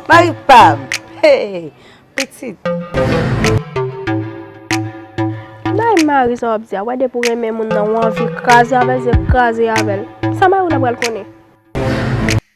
Mari pam Hey pitit Nay mari sa wap di a wè depi ou renmen moun nan ou anvi kraze avèl zye kraze avèl sa mari w la pral konnen.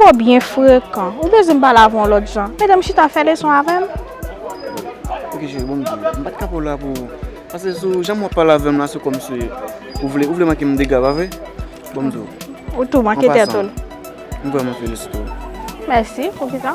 Twò byen frekan. Ou bezwen m pale avè w yon lòt jan? Metem chita fè leson avè m? Ok cheri, bon m di w. M pa t ka pa w la pou. Pase sou jan wap pale avè m la se kòm si ou vle ou vle manke m dega, pa vre? Bon m di w. Ou tou manke tèt ou. An pasan, m vrèman felisite w. Mèsi. Poukisa?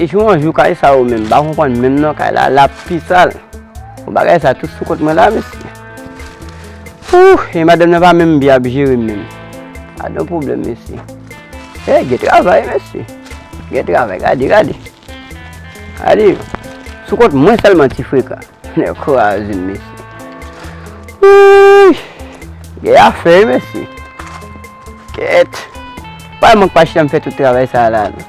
De jou an jou kay sa ou menm, ba ou konpon menm nan kay la, la pi sal. Ou ba kay sa tout sou kont mwen la, mesi. Ou, e madan nan pa menm bi ap jiri menm. A don problem, mesi. E, ge travay, mesi. Ge travay, gade, gade. Gade, sou kont mwen sèlman ti freka. Nèg kraze mesye. Wouyy! Gen afè wi mesye. Kèt. Pa mank pa chita m fè tout travay sa la non.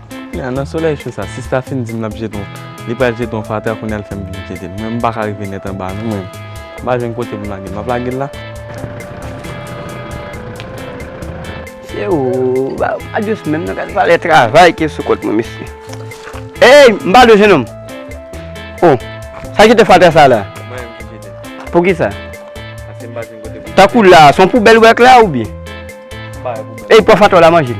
Kounya nan solèy cho sa sista fin dim lap jete yon li pral jete yon fatra kounya li fèm vin jetel mwen m paka rive nèt anba non mwen m pa jwenn kote poum lagel map lagel la. Mesye ooh ba yo pa dous menm nan gad valè travay ki sou kont mwen mesye Eyy m pa dous jenòm Oh sa jete fatra sa la Se mwen menm ki jetel Poukisa Paske m pa jwenn kote poum jetel Tankou la son poubèl ou wè ak la oubyen M pa wè poubèl Eyy pran fatra w la manje l.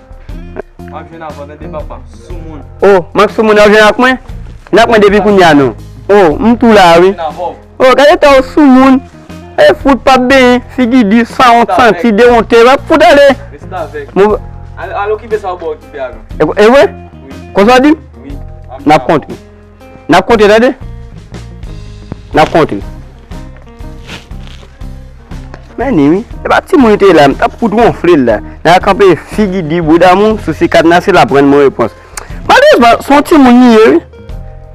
Mak vin avan tande papa, soumoun. O, mak soumoun ap vin ak mwen? Vin ak mwen depi kounya non. O, m tou la wi. O, gade eta w soumoun. E fout pap benyen, figi di, sanwont, santi, dewonte. Wap fout ale. Restavèk. Mou. Al okipe sa w bo okipe avan. E vre? Wi. Konsa w di? Wi. Map kontre. Nap konte tande. Nap konte. Men ni wi. E pa ti moun te la. M tap fout wonfle l la. Nan a kanpe figi di bouda moun sou si kad nan se la pran moun repons. Malezman son ti moun li ye wi.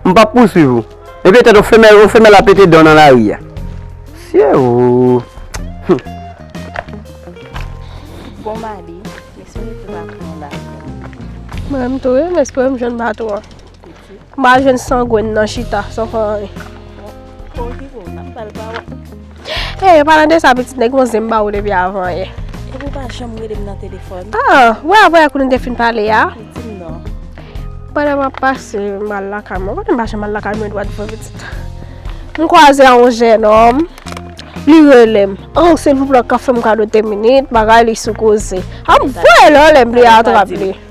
M pap pou swiv ou. E pe tèt ou femèl ou femèl a pete dan nan la ri a. Sye ou. Bon madi. M espere tout va pran la. Mwen menm tou wi. M espere m jwenn bato an. Mba jwenn sangwen nan chita san fè anyen. E, eh, palan de sa pitit nèg yon zen mba ou depi avan ye. E pou pa janm rele m nan telefon. A, ah, wè a wè akou nou te fin pale ya. Pitit m nan. Palan mba pase mal lakay mwen. Mwen mba janm mal lakay mwen dwa di fè pitit. Mwen kwa ze a yon jè nòm. Li rele m. An, oh, se pou plak ka fè m kado te minit. Bagay li sou koze. An, ah, vwe lò lè m li a atrap li. Mwen mba di.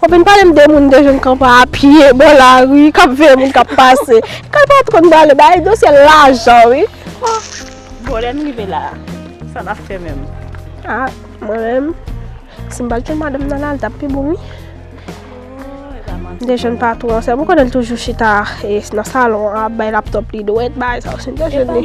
Ou vin pale m de moun de jwenn kanpa a pye bò lari kap veye moun kap pase. Kay patwon m pale bay dosye lajan wi. Bon lè n rive la sa nap fè menm. A mwen menm si m pat jwenn madanm nan la li tap pi bon wi. De jwenn patwon an sèm ou konnen l toujou chita nan salon an ap bay laptòp li dwèt bay sa ou si m te jwenn li.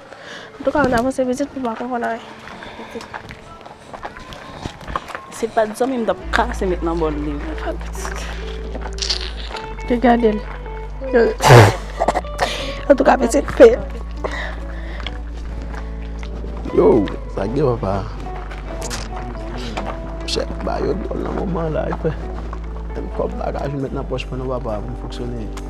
Antouka ann avanse pitit pou pa konfonn anyen. Se pat zanmi m tap kase met nan bòl li. Mwen pa pitit. Te gade l. Antouka pitit pe. Yo, sa gen papa. Chè, ba yo dòl nan moman la. Mwen kòp bagaj met nan pòch mwen nan papa pou m foksyone.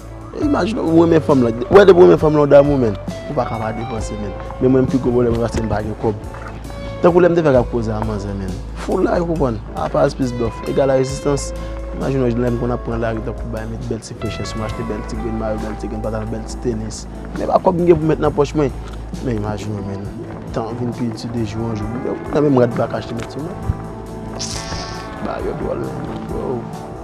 Imajine ou renmen fanm lan. Ou wè depi ou renmen fanm lan ou damou menn. Ou pa ka pa depanse menn. Men mwen m pi gwo pwoblèm mwen paske m pa gen kòb. Tankou lè m te fèk ap koze ak manzè menn. Full life ou konprann. Apaz plis dòf egal a rezistans. Imajine w lè m konn ap pran lari tankou bay met bèl ti fechè sou m achte bèl ti grenn mayo, bèl ti grenn patalon, bèl ti tenis. Men pa kòb m gen pou met nan pòch mwen. Men imajine w menn. Tan an vin pi di de jou an jou. Nan menm rad m pa ka achte met sou mwen. Bagay yo dwòl menn.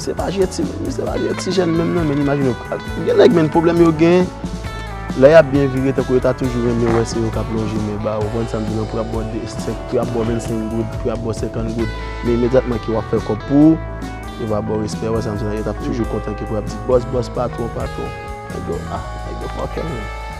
Se pa je ti moun, se pa je ti jèn menm nan men imajine w pral. Gen nèg menn pwoblèm yo gen, lè y ap byen vire tankou yo ta toujou renmen wè se yo k ap lonje men ba yo, ou konprann sa m di la, pou y ap ba w 2 senk, pou y ap ba w 25 goud, pou y ap ba w 50 goud, men imedyatman ke w ap fè kòb pou ou, yo va ba w respè, ou wè sa m di la, yo t ap toujou kontan ke pou y ap di bòs, bòs, patwon, patwon, nèg yo, ah, nèg yo fòkè menn.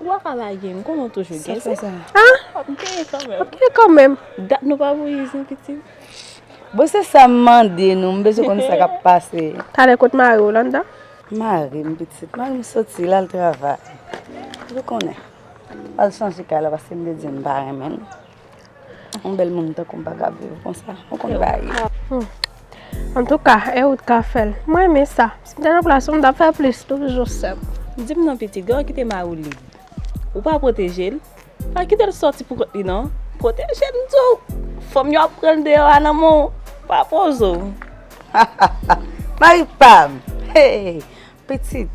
Ou pa ka lage m konnen w toujou gen zen. Wap genyen kan menm. Wap genyen kan menm. Dat nou pa voye zen pitit. Bon se sa m mande nou m bezwen konn sa kap pase. Talè kot mari w lan dan. Mari m pitit mari m soti lal travay. Ou konnen. Al chanje kay la paske m te di m pa renmen l. Yon bèl moun tankou m pa ka viv konsa. Ou konn baye. Antouka, e ou t ka fè l. Mwen renmen sa. Si m te nan plas ou, m t ap fè plis toujou sè m. Di m non pitit, lè w kite mari w lib, ou pa pwoteje l? Pa kite l sòti pou kont li non. Pwoteje l m di w. Fanm yo ap pran l deyò a nan men w. Pa poze w. Hahaha! Mari pa m! Hey! Pitit,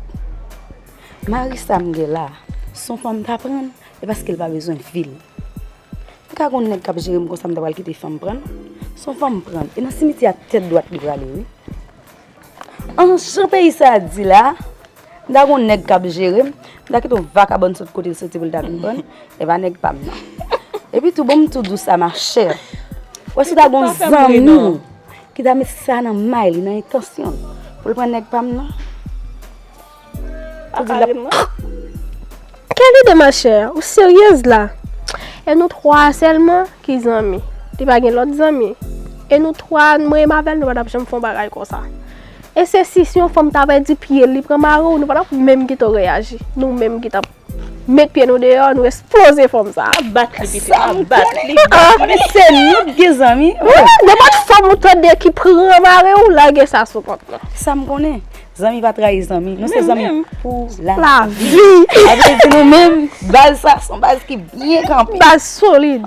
mari sa m gen la, s on fanm m t aprann? E paske l pa bezwen fi l. M ka gon nèg k ap jere m konsa m ta pral kite fanm pran l? S on fanm m pran l. E nan simityè a tèt dwat li prale wi. An jan peyi sa a di la a, m ta gon nèg k ap jere m, m ta kite on vakabon sot kote l soti pou l ta vin pran l, e pa nèg pa m nan. Epi tou, ban m tou di w sa machè, ou wè si w ta gon zanmi w ki ta met sa nan may li, nan entansyon l, pou l pran nèg pa m nan? Pou di lap Kèl ide ma chè ou seryez la E nou 3 selman ki zanmi Li pa gen lot zanmi E nou 3 nou menm avèl nou pa tap janm fon bagay konsa E se si si yon fanm ta pèdi pyel li pran mariw nou pa tap menm getan reyaji Nou menm ki tap Met pye nou deyò nou esploze fòm sa. Ap bat li pitit la, ap bat li. Mwen se nou ki gen zanmi. Nenpòt fanm ou tande ki pran mari ou, lage sa sou kont mwen. Sa m konnen, zanmi pa trayi zanmi. Nou se zanmi pou lavi. Sa vle di nou menm, baz sa son baz ki byen kanpe. Baz solid.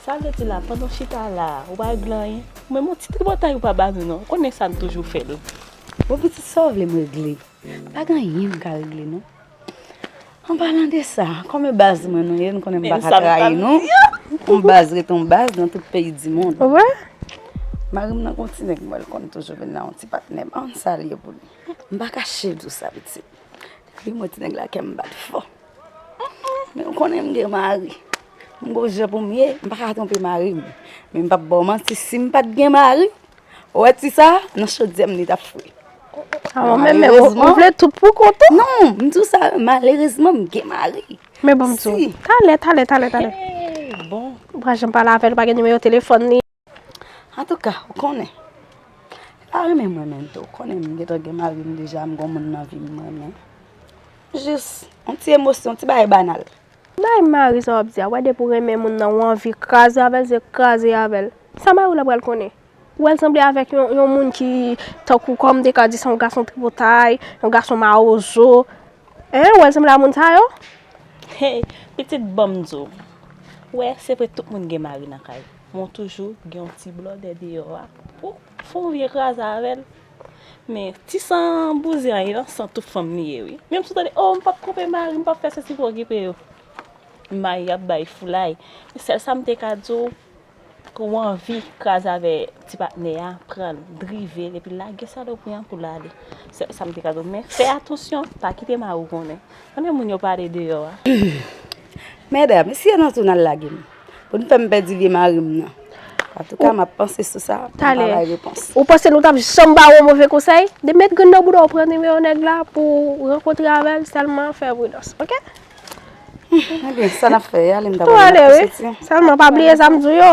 Sa vle di la pandan w chita la a, ou pa regle anyen? Ou menm yon ti tripotay ou pa ba nou non, ou konnen sa n toujou fè l. Bon pitit sa w vle m regle? Pa gen anyen m ka regle non. An palan de sa, kòm e baz mwen nou ye, nou konnen m pa ka trayi nou. Yon baz rete yon baz nan tout peyi dimonn. Mari m nan gen yon ti nèg m wè l konn toujou vin la, yon ti patnè m. An sa l ye pou li? M pa kache di w sa pitit. Depi m wè ti nèg la kè m bat fò. Humm men ou konnen m gen mari m gon jan pou m ye m pa ka twonpe mari m men m pap ba w manti si m pat gen mari ou wè ti sa nan chodyè m li tap fri malerezman ou vle tout pou kont ou non m di w sa malerezman m gen mari men bon m di w talè talè talè talè bon ou pa janm pale avè l ou pa gen nimewo telefòn li. Antouka, ou konnen, li pa renmen m renmen l tou. Ou konnen m gentan gen mari m deja, m gon moun nan vi m m renmen. Jis, yon ti emosyon, yon ti bagay banal. Bay mari sa w ap di a, wè depi ou renmen moun nan ou anvi kraze avè l, se kraze avè l. Sa mari w la pral konnen? Ou wè l sanble avèk yon moun ki tankou kòm m te ka di se yon gason tripotay, yon gason mawozo. Hein, ou wè l sanble a moun sa yo? Hey, pitit ban m di w, wè se vre tout moun gen mari nan kay. Mwen toujou gen yon ti blòdè deyò a pou fè yon vye kraze avè l. Men, ti san bouzen an yon san tout fanm li ye wi. Menm si w tande, o m pap koupe mari m, m pap fè sesi pou okipe yo. Mari ap bay foulay. Men sèl sa m te ka di w, ke w anvi kraze avè ti patnè a, pran l, drive l epi lage salopri an pou l ale. Sèl sa m te ka di w. Men, fè atansyon, pa kite mari w konnen. Konnen moun yo pale deyò a. Medam, si yo nan tou nan lage m. Pou nou fè m pèdi vye mari m nan. An tou ka m ap panse sou sa. Talè. Ou panse nou t ap janm ba ou move konsèy? De met grenn nan bouda w pran nimewo nèg la pou w rankontre avè l sèlman fè pridans. Ok? Ebyen sa n ap fè ale m ta pral mete kouche ti. Sèlman pa bliye sa m di w yo.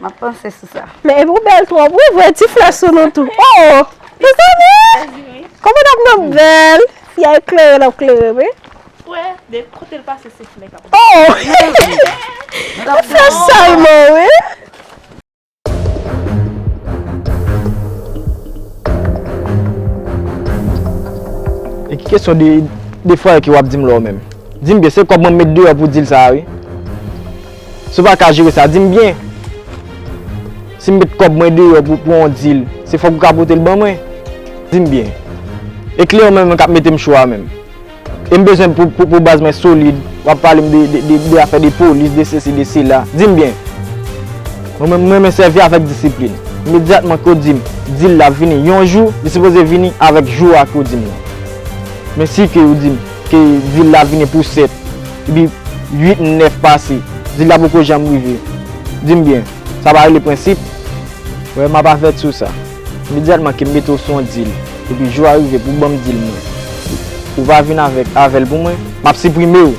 M ap panse sou sa. Men epi w bèl twòp wi voye ti flè sou nou tou. Oo! Mezanmi! Kòman n ap nan bèl? Yay klere n ap klere wi. Frè de kotel pase se fimè kap pase. Oh Ou fè salmon wi. E ki kesyon de de frè ke wap dim la ou menm? Dim byen se kob mwen met deyò pou dil sa a wi. Si w pa ka jere sa dim byen. Si m met kob mwen deyò pou pou yon dil se fok ou ka pote l ban mwen? Dim byen. E kle ou menm kap mete m cho a menm? E m bezwen pou baz mwen solid. W ap pale m de afè de polis, de sesi, de sela. Di m byen. Mwen renmen sèvi avèk disiplin. Imedyatman ke w di m, di l l ap vini yon jou, li sipoze vini avèk jou a ke w di m nan. Men si ke w di m ke di l l ap vini pou 7, epi 8, 9 pase, di l la poko janm rive. Di m byen. Sa pa rele prensip? Wè, m ap avèt sou sa. Medyatman ke m mete w sou yon dil, epi jou a rive pou w ban m dil mwen, ou va vin avèk avè l pou mwen, m ap siprime w!